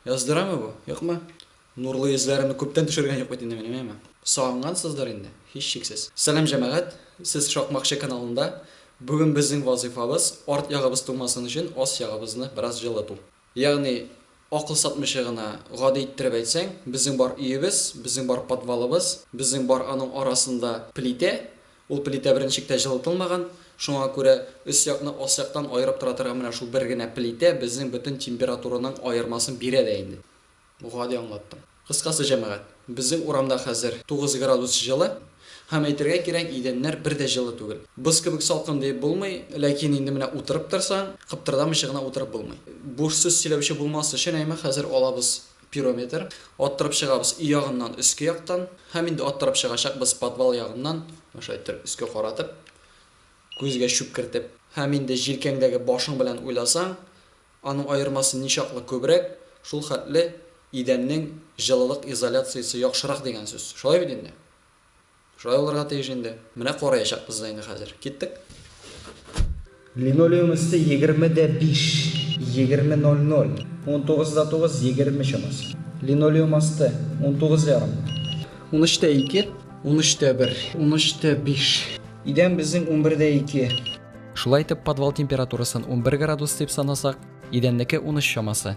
Яздырамы бу? Юкмы? Нурлы йөзләремне күптән төшергән юк бит инде минем, әйеме? Сагынгансыздыр инде, һичшиксез. Сәлам җәмәгать, сез Шакмакчы каналында. Бүген безнең вазыйфабыз, арт ягыбыз туңмасын өчен, ас ягыбызны бераз җылыту. Ягъни, акыл сатмыйча гына, гади иттереп әйтсәң, безнең бар өебез, безнең бар подвалыбыз, безнең бар аның арасында плитә, Ул плитә беренчектә җылытылмаган, шуңа күрә өс якны алсяктан аерып тора торган менә шул бер генә плитә безнең бөтен температураның аермасын бирә дә инде. Гади аңлаттым. Кыскасы, җәмәгать, безнең урамда хәзер тугыз градус җылы, һәм әйтергә кирәк, идәннәр бер дә җылы түгел. Боз кебек салкын диеп булмый, ләкин инде менә утырып торсаң, кыптырдамыйча гына утырып булмый. Буш сүз сөйләүче булмас өчен әйме хәзер алабыз. Пирометр. Аттырып чыгабыз өй ягыннан, өске яктан. Һәм инде аттырып чыгачакбыз подвал ягыннан. Менә шулай иттереп өскә каратып, күзгә чүп кертеп. Һәм инде җилкәңдәге башың белән уйласаң, аның аермасы ничаклы күбрәк, шул хәтле идәннең җылылык изоляциясе яхшырак дигән сүз. Шулай бит инде? Шулай булырга тиеш инде. Менә караячакбыз да инде хәзер. Киттек. Линолеум өсте егерме дә биш, егерме ноль ноль, унтугыз да тугыз, егерме чамасы. Линолеум асты, унтугыз ярым. Унөч тә ике, унөч тә бер, унөч тә биш. Идән безнең унбер дә ике. Шулай итеп, подвал температурасын унбер градус дип санасак, идәннеке унөч чамасы.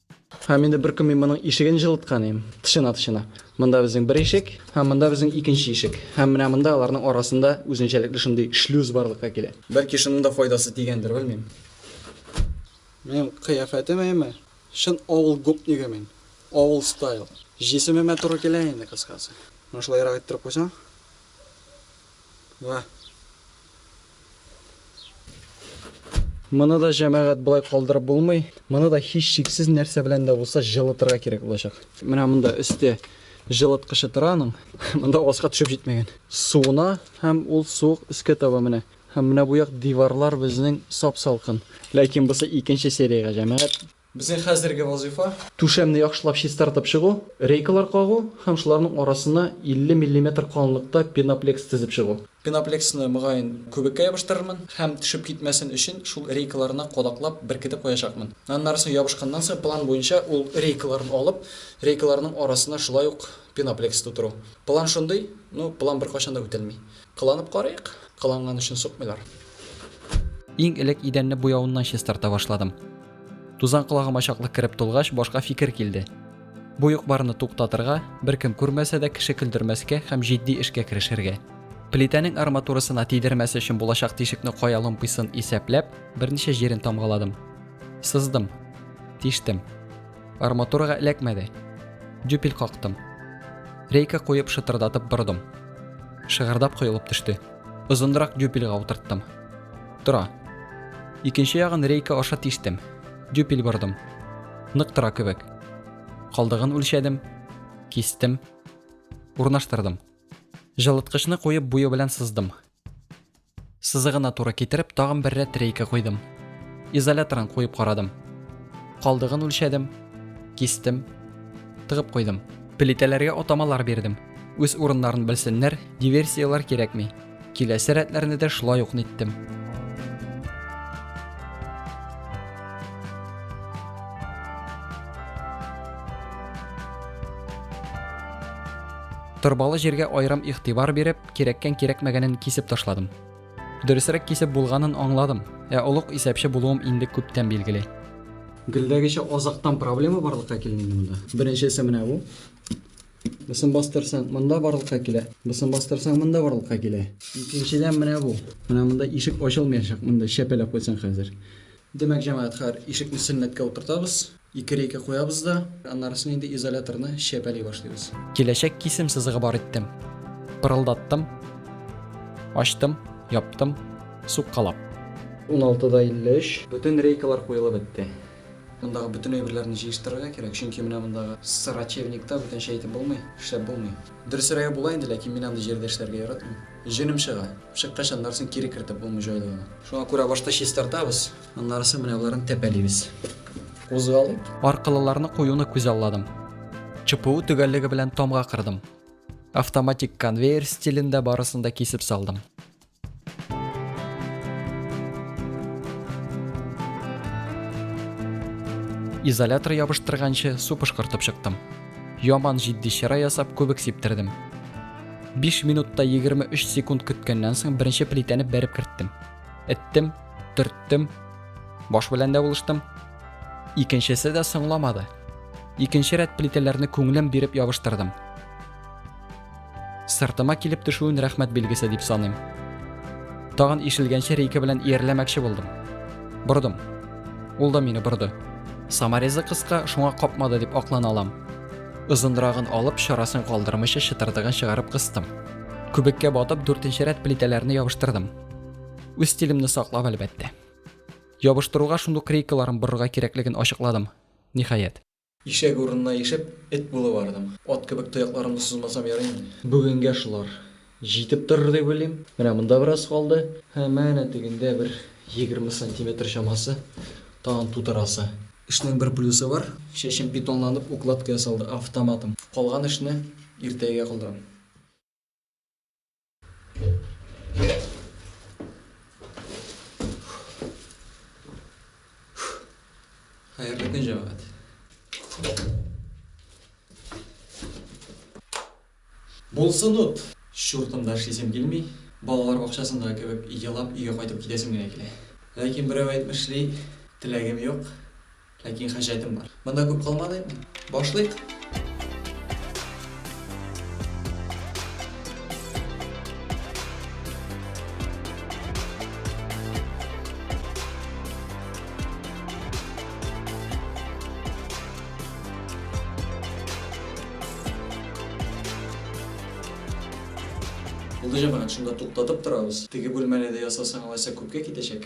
Һәм инде бер көн мин моның ишеген җылыткан идем. Тышына, тышына. Монда безнең бер ишек, һәм монда безнең икенче ишек. Һәм менә монда аларның арасында үзенчәлекле шундый шлюз барлыкка килә. Бәлки шуның да файдасы тигәндер, белмим. Минем кыяфәтем әйме? Чын авыл гопнигы мин. Авыл стайл. Җисемемә туры килә инде, кыскасы. Менә шулайрак иттереп куйсаң. Менә. Моны да җәмәгать болай калдырып булмый. Моны да һичшиксез нәрсә белән дә булса җылытырга кирәк булачак. Менә монда өсте җылыткычы тора аның. Монда аска төшеп җитмәгән. Суына һәм ул суык өскә таба менә. Һәм менә бу як диварлар безнең сап-салкын. Ләкин бусы икенче сериягә җәмәгать. Безнең хәзерге вазыйфа, түшәмне яхшылап чистартып чыгу, рейкалар кагу һәм шуларның арасына 50 миллиметр калынлыкта пеноплекс тезеп чыгу. Пеноплексны, мөгаен, күбеккә ябыштырырмын һәм төшеп китмәсен өчен шул рейкаларына кадаклап беркетеп куячакмын. Аннарысы ябышканнан соң, план буенча ул рейкаларны алып, рейкаларның арасына шулай ук пеноплекс тутыру. План шундый, ну, план беркайчан да үтәлми. Кыланып карыйк, кыланган өчен сукмыйлар. Иң элек идәнне буяуыннан чистарта башладым. Тузан колагыма чаклы кереп тулгач, башка фикер килде. Бу юк-барны туктатырга, беркем күрмәсә дә кеше көлдермәскә һәм җитди эшкә керешергә. Плитәнең арматурасына тидермәс өчен булачак тишекне кая ломпыйсын исәпләп, берничә җирен тамгаладым. Сыздым. Тиштем. Арматурага эләкмәде. Дюпель кактым. Рейка куеп шытырдатып бордым. Шыгырдап коелып төште. Озынрак дюпельга утырттым. Тора. Икенче ягын рейка аша тиштем. Дюпель бордым. Нык тора кебек. Калдыгын үлчәдем. Кистем. Урнаштырдым. Жылыткычны куеп буе белән сыздым. Сызыгына туры китереп, тагын бер рәт рейка куйдым. Изоляторын куеп карадым. Калдыгын үлчәдем, кистем, тыгып куйдым. Плитәләргә атамалар бирдем. Үз урыннарын белсеннәр, диверсияләр кирәкми. Киләсе рәтләрне дә шулай ук ниттем. Торбалы җиргә аерым игътибар биреп, Кирәккән кирәкмәгәнен кисеп ташладым. Дөресрәк кисеп булганын аңладым. Ә олуг исәпче булуым инде күптән билгеле. Гелдәгечә азактан проблема барлыкка килә инде монда. Беренчесе менә бу. Бусын бастырсаң, монда барлыкка килә. Бусын бастырсаң, монда барлыкка килә. Икенчедән менә бу. Менә монда ишек ачылмыячак, монда чәпәләп куйсаң хәзер. Димәк, җәмәгать, хәер, ишекне сөннәткә утыртабыз. Ике рейка куябыз да, аннарысын инде изоляторны чәпәли башлыйбыз. Киләчәк кисем сызыгы бар иттем. Пырылдаттым. Ачтым, яптым, суккалап. 16 да 53. Бөтен рейкалар куелып бетте. Мондагы бөтен әйберләрне җыештырырга кирәк, чөнки менә мондагы срачевникта бүтәнчә әйтеп булмый, эшләп булмый. Дөресрәге була инде, ләкин мин андый җирдә эшләргә яратмыйм. Җенем чыга. Чыккач, аннарысын кире кертеп булмый җайлы гына. Шуңа күрә башта чистартабыз, Аннарысы менә боларын тәпәлибез. Кузгалыйк. Аркылыларны куюны күзалладым. ЧПУ төгәллеге белән тамга кырдым. Автоматик конвейер стилендә барысын да кисеп салдым. Изолятор ябыштырганчы су пышкыртып чыктым. Яман җитди чыра ясап күбек сиптердем. 5 минутта 23 секунд көткәннән соң беренче плитәне бәреп керттем. Эттем, төрттем баш белән дә булыштым икенчесе дә соңламады икенче рәт плитәләрне күңелем биреп ябыштырдым сыртыма килеп төшүен рәхмәт билгесе дип саныйм тагын ишелгәнче рейка белән иярләмәкче булдым бордым ул да мине борды саморезы кыска шуңа капмады дип аклана алам озынрагын алып чарасын калдырмыйча чытырдыгын чыгарып кыстым күбеккә батып дүртенче рәт плитәләрне ябыштырдым үз стилемне саклап әлбәттә ябыштыруга шундук рейкаларын борырга кирәклеген ачыкладым ниһаять Ишәк урынына ишеп, эт булып бардым. Ат кебек тоякларымны сузмасам ярый инде. Бүгенгә шулар җитеп торыр дип уйлыйм. Менә монда бераз калды һәм әнә тегендә бер егерме сантиметр чамасы тагын тутырасы. Эшнең бер плюсы бар, чәчем бетонланып, укладка ясалды, автоматом. Калган эшне иртәгә калдырам. Хәерле көн, җәмәгать. Булсын ут. Чуртымда эшлисем килми. Балалар бакчасында кебек елап өйгә кайтып китәсем генә килә. Ләкин берәү әйтмешли, теләгем юк, Ләкин хаҗәтем бар. Монда күп калмадыйк. Башлыйк! Булды, җәмәгать, шунда туктатып торабыз. Теге бүлмәне дә ясасаң, алайса күпкә китәчәк.